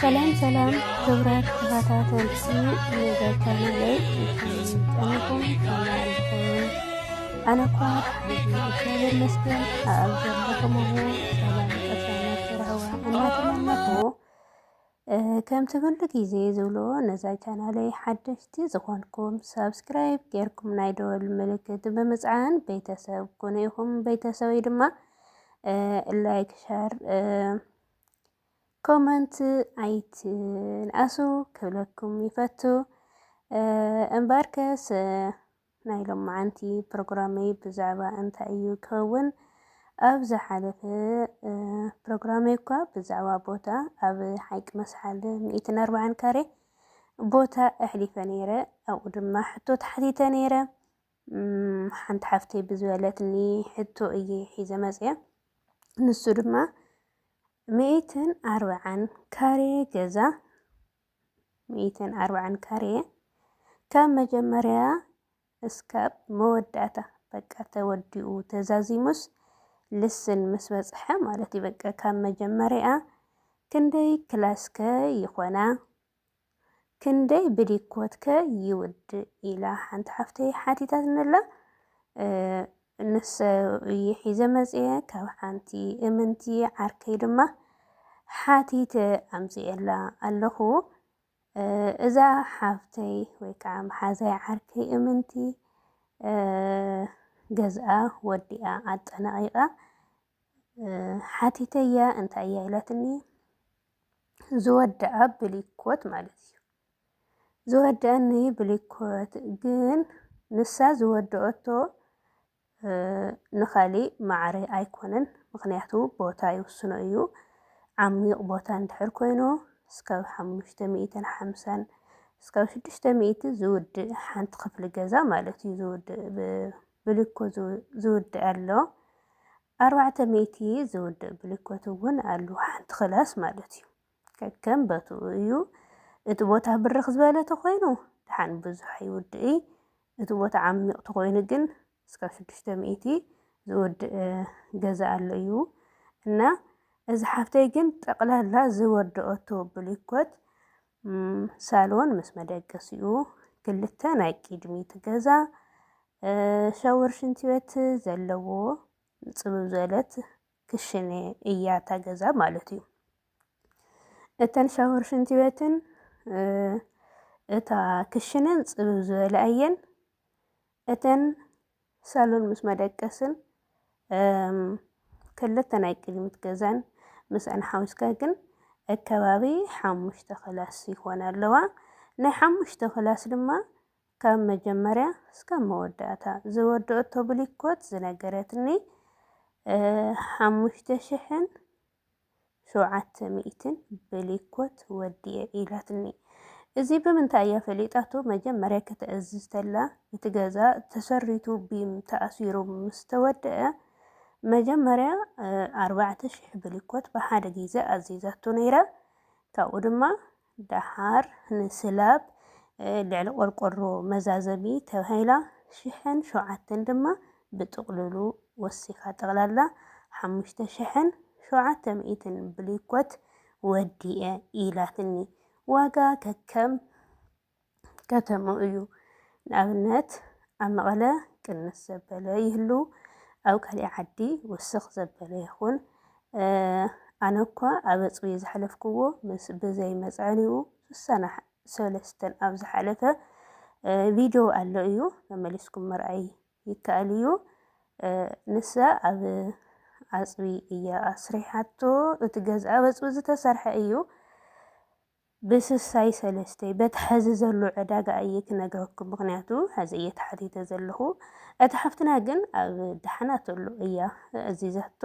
ሰላም ሰላም ክብራት ተኸታተልቲ መዘተናለይ ጠንኹም ተናልኹም ኣነ እኳ እግዚኣብሔር መስገን ኣብ ዘለኹምዎ ሰላም ቅሳነት ረህዋ እናተመነኹ ከምቲ ኩሉ ግዜ ዝብሎ ነዛ ቻናለይ ሓደሽቲ ዝኾንኩም ሳብስክራይብ ጌርኩም ናይ ደወል ምልክት ብምፅዓን ቤተሰብ ኩኑ ኢኹም ቤተሰበይ ድማ ላይክ ሸር ኮመንት ኣይትንኣሱ ክብለኩም ይፈቱ እምበርከስ ናይ ሎማዓንቲ ፕሮግራመይ ብዛዕባ እንታይ እዩ ክኸውን ኣብ ዝሓለፈ ፕሮግራመይ እኳ ብዛዕባ ቦታ ኣብ ሓይቂ መስሓል ሚእትን ኣርባዓን ካሬ ቦታ ኣሕሊፈ ነይረ ኣብኡ ድማ ሕቶ ተሓቲተ ነይረ ሓንቲ ሓፍተይ ብዝበለትኒ ሕቶ እየ ሒዘ መፅያ ንሱ ድማ ሚእትን ኣርብዓን ካሬ ገዛ ሚእትን ኣርብዓን ካሬ ካብ መጀመርያ እስካብ መወዳእታ በቃ ተወዲኡ ተዛዚሙስ ልስን ምስ በፅሐ ማለት እዩ በቃ ካብ መጀመርያ ክንደይ ክላስከ ይኾና ክንደይ ብዲኮትከ ይውድእ ኢላ ሓንቲ ሓፍተይ ሓቲታትንላ ንሰ እየ ሒዘ መፅየ ካብ ሓንቲ እምንቲ ዓርከይ ድማ ሓቲተ ኣምፅኤላ ኣለኹ እዛ ሓፍተይ ወይ ከዓ መሓዛይ ዓርከይ እምንቲ ገዝኣ ወዲኣ ኣጠናቂቃ ሓቲተያ እንታይ እያ ኢላትኒ ዝወደኣ ብሊኮት ማለት እዩ። ዝወደኣኒ ብሊኮት ግን ንሳ ዝወደኦቶ ንኻሊእ ማዕረ ኣይኮነን ምክንያቱ ቦታ ይውስኖ እዩ። ዓሚቕ ቦታ እንድሕር ኮይኑ እስካብ ሓሙሽተ ሚእትን ሓምሳን እስካብ ሽዱሽተ ሚእቲ ዝውድእ ሓንቲ ክፍሊ ገዛ ማለት እዩ። ዝውድእ ብሊኮ ዝውድእ ኣሎ። ኣርባዕተ ሚእቲ ዝውድእ ብሊኮት እውን ኣሉ ሓንቲ ክላስ ማለት እዩ ከከም በትኡ እዩ እቲ ቦታ ብርኽ ዝበለ ተኾይኑ ድሓን ብዙሕ ኣይውድእይ እቲ ቦታ ዓሚቕ ተኾይኑ ግን እስካብ ሽዱሽተ ሚእቲ ዝውድእ ገዛ ኣሎ እዩ እና እዚ ሓፍተይ ግን ጠቕላላ ዝወደኦቶ ብሊኮት ሳሎን ምስ መደቀሲኡ ክልተ ናይ ቅድሚት ገዛ ሻወር ሽንቲ ቤት ዘለዎ ፅብብ ዝበለት ክሽነ እያ እታ ገዛ ማለት እዩ። እተን ሻወር ሽንቲ ቤትን እታ ክሽነን ፅብብ ዝበላ እየን። እተን ሳሎን ምስ መደቀስን ክልተ ናይ ቅድሚት ገዛን ምስኣን ሓዊስካ ግን ከባቢ ሓሙሽተ ክላስ ይኾና ኣለዋ። ናይ ሓሙሽተ ክላስ ድማ ካብ መጀመርያ እስካብ መወዳእታ ዝወደኦቶ ብሊኮት ዝነገረትኒ ሓሙሽተ ሽሕን ሸውዓተ ሚእትን በሊኮት ወዲኤ ኢላትኒ እዚ ብምንታይ እያ ፈሊጣቶ መጀመርያ ከተእዝዝ ተላ እቲ ገዛ ተሰሪቱ ቢም ተኣሲሩ ምስ ተወደኣ መጀመርያ ኣርባዕተ ሽሕ ብሊኮት ብሓደ ግዜ ኣዚዛቶ ነይራ ካብኡ ድማ ደሓር ንስላብ ልዕሊ ቆርቆሮ መዛዘሚ ተባሂላ ሽሕን ሸውዓተን ድማ ብጥቕሉሉ ወሲኻ ጠቕላላ ሓሙሽተ ሽሕን ሸውዓተ ሚእትን ብሊኮት ወዲኤ ኢላትኒ ዋጋ ከከም ከተምኡ እዩ። ንኣብነት ኣብ መቐለ ቅንስ ዘበለ ይህሉ፣ ኣብ ካሊእ ዓዲ ውስኽ ዘበለ ይኹን። ኣነ እኳ ኣብ ኣፅቢ ዝሓለፍክዎ ምስ ብዘይ መፅዐኒኡ ስሳና ሰለስተን ኣብ ዝሓለፈ ቪድዮ ኣሎ እዩ መመሊስኩም ምርኣይ ይከኣል እዩ። ንሳ ኣብ ኣፅቢ እያ ኣስሪሓቶ እቲ ገዝኣ በፅቢ ዝተሰርሐ እዩ። ብስሳይ ሰለስተይ በቲ ሐዚ ዘሎ ዕዳጋ እየ ክነግረኩም ምክንያቱ ሐዚ እየ ተሓቲተ ዘለኩ እታ ሓፍትና ግን ኣብ ዳሕና ተሎ እያ ኣዚዛቶ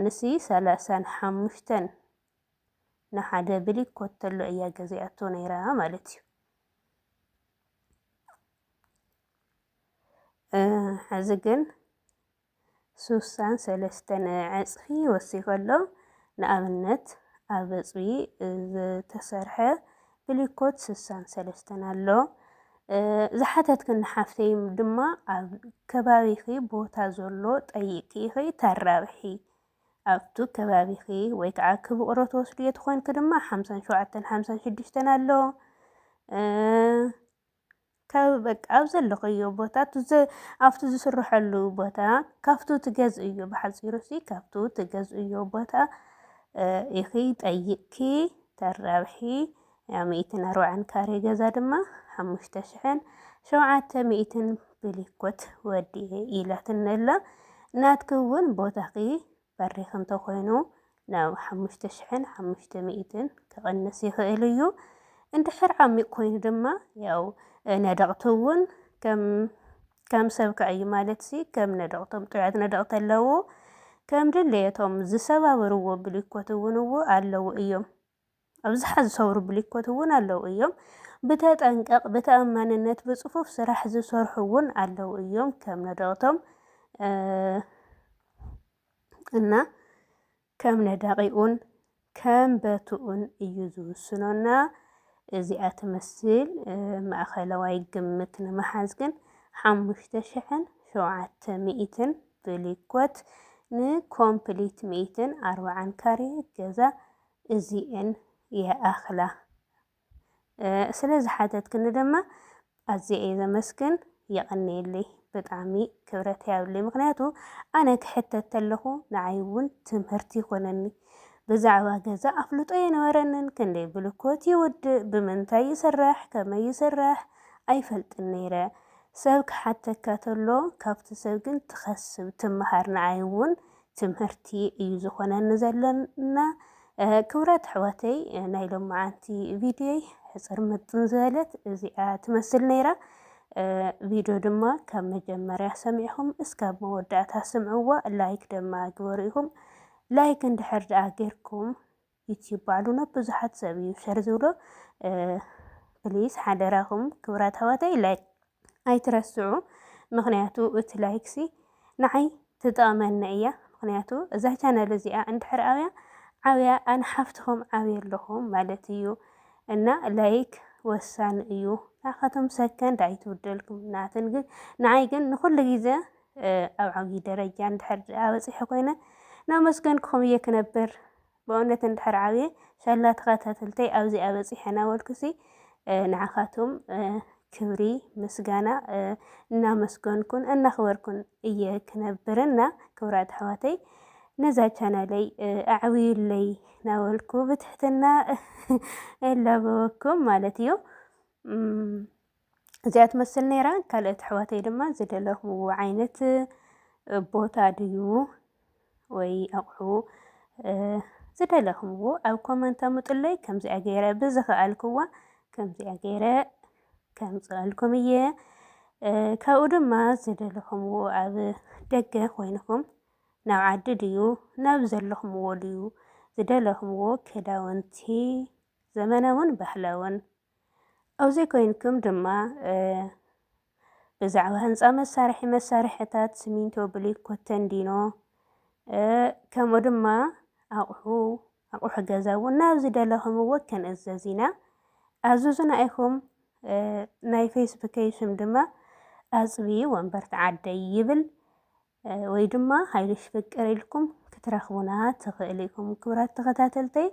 ንሲ ሰላሳን ሓሙሽተን ንሓደ ብሊክ ኮተሎ እያ ገዚኣቶ ነይራ ማለት እዩ ሐዚ ግን ሱሳን ሰለስተን ዕጽፊ ወሲኹ ኣሎ። ንኣብነት ኣብ ዕጽፊ ዝተሰርሐ ብሊኮት ሱሳን ሰለስተን ኣሎ። ዝሓተትክኒ ሓፍተይ ድማ ኣብ ከባቢኺ ቦታ ዘሎ ጠይቂ ኢኺ ተራብሒ ኣብቱ ከባቢኺ ወይ ከዓ ክብቕሮ ትወስድዮ ትኾንኪ ድማ ሓምሳን ሸውዓተን ሓምሳን ሽዱሽተን ኣሎ። ካብ በቃ ኣብ ዘለኽዮ ቦታ ኣብቲ ዝስርሐሉ ቦታ ካብቱ ትገዝእዮ ብሓፂሩሲ ካብቱ ትገዝእዮ ቦታ ኢኺ ጠይቕኪ ተራብሒ ያ ሚእትን ኣርብዓን ካሬ ገዛ ድማ ሓሙሽተ ሽሕን ሸውዓተ ሚእትን ብሊኮት ወዲኤ ኢላትኒ ኣላ ናትኪ እውን ቦታኺ በሪኽ እንተኾይኑ ናብ ሓሙሽተ ሽሕን ሓሙሽተ ሚእትን ክቕንስ ይኽእል እዩ። እንድሕር ዓሚቕ ኮይኑ ድማ ያው ነደቕቲ እውን ከም ከም ሰብ ክዕዩ ማለት ሲ ከም ነደቕቶም ጥዑያት ነደቕቲ ኣለዉ ከም ድሌቶም ዝሰባበርዎ ብሊኮት እውን እዎ ኣለዉ እዮም ኣብዝሓ ዝሰብሩ ብሊኮት እውን ኣለው እዮም። ብተጠንቀቕ፣ ብተኣማንነት፣ ብፅፉፍ ስራሕ ዝሰርሑ እውን ኣለው እዮም ከም ነደቕቶም እና ከም ነዳቒኡን ከም በትኡን እዩ ዝውስኖና። እዚኣ ትመስል ማእኸለዋይ ግምት ንምሓዝ ግን ሓሙሽተ ሽሕን ሸውዓተ ሚእትን ብሊኮት ንኮምፕሊት ሚእትን ኣርባዓን ካሬ ገዛ እዚኤን ይኣኽላ ስለ ዝሓተትክኒ ድማ ኣዝየ እየ ዘመስግን የቐንየለይ ብጣዕሚ ክብረት ያብለይ ምክንያቱ ኣነ ክሕተት ተለኹ ንዓይ እውን ትምህርቲ ይኮነኒ ብዛዕባ ገዛ ኣፍልጦ የነበረንን ክንደይ ብልኮት ይውድእ ብምንታይ ይስራሕ ከመይ ይስራሕ ኣይፈልጥን ነይረ ሰብ ክሓተካ ተሎ ካብቲ ሰብ ግን ትኸስብ ትመሃር ንዓይ እውን ትምህርቲ እዩ ዝኾነኒ ዘለና ክብራት ኣሕዋተይ ናይ ሎማዓንቲ ቪድዮይ ሕፅር ምጥን ዝበለት እዚኣ ትመስል ነይራ ቪድዮ ድማ ካብ መጀመርያ ሰሚዕኹም እስካብ መወዳእታ ስምዕዋ ላይክ ድማ ግበሩ ኢኹም ላይክ እንድሕር ደኣ ጌርኩም ዩቲዩብ ባዕሉ ናብ ብዙሓት ሰብ እዩ ሸር ዝብሎ። ፕሊስ ሓደራኹም ክብራት ኣሕዋተይ ላይክ ኣይትረስዑ። ምክንያቱ እቲ ላይክሲ ንዓይ ትጠቕመኒ እያ። ምክንያቱ እዛ ቻናል እዚኣ እንድሕር ኣብያ ዓብያ ኣነ ሓፍትኹም ዓብየ ኣለኹም ማለት እዩ እና ላይክ ወሳኒ እዩ። ንዓኻቶም ሰከንድ ኣይትውደልኩም ናትን ግን ንዓይ ግን ንኩሉ ግዜ ኣብ ዓብዪ ደረጃ እንድሕር በፂሐ ኮይነ ናመስገንኩም እየ ክነብር በእውነት እንድሕር ዓብየ ሻላ ተከታተልተይ ኣብዚኣ በፂሐ ናበልኩሲ ንዓካቱም ክብሪ ምስጋና እናመስገንኩን እናክበርኩን እየ ክነብር እና ክብራት ኣሕዋተይ ነዛ ቻናለይ ኣዕብዩለይ ናበልኩ ብትሕትና እላበወኩም ማለት እዩ። እዚኣ ትመስል ነይራ። ካልኦት ኣሕዋተይ ድማ ዝደለኹዎ ዓይነት ቦታ ድዩ ወይ ኣቑሑ ዝደለኹምዎ ኣብ ኮመንት ኣምጡለይ። ከምዚኣ ገይረ ብዝኸኣልክዋ ከምዚኣ ገይረ ከምፅኣልኩም እየ። ካብኡ ድማ ዝደለኹምዎ ኣብ ደገ ኮይንኹም ናብ ዓዲ ድዩ ናብ ዘለኹምዎ ድዩ ዝደለኹምዎ ክዳውንቲ ዘመናውን ባህላውን ኣብዙይ ኮይንኩም ድማ ብዛዕባ ህንፃ መሳርሒ መሳርሕታት ስሚንቶ፣ ብሊኮ፣ ተንዲኖ ከምኡ ድማ ኣቑሑ ኣቑሑ ገዛ እውን ናብ ዝደለኹምዎ ክንእዘዝ ኢና ኣዙዙና ኢኹም ናይ ፌስቡከይ ሽም ድማ ኣፅቢ ወንበርት ዓደይ ይብል ወይ ድማ ሃይልሽ ፍቅር ኢልኩም ክትረኽቡና ትኽእሉ ኢኹም። ክብራት ተኸታተልተይ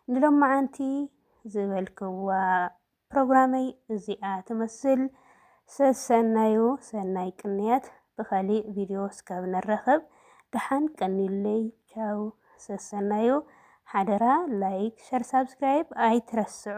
ንሎማዓንቲ ዝበልክዋ ፕሮግራመይ እዚኣ ትመስል። ሰሰናዩ ሰናይ ቅንያት ብኸሊእ ቪድዮ እስካብ ንራኸብ ደሓን ቀንዩለይ ቻው ሰሰናዩ ሓደራ ላይክ ሸር ሳብስክራይብ ኣይትረስዑ።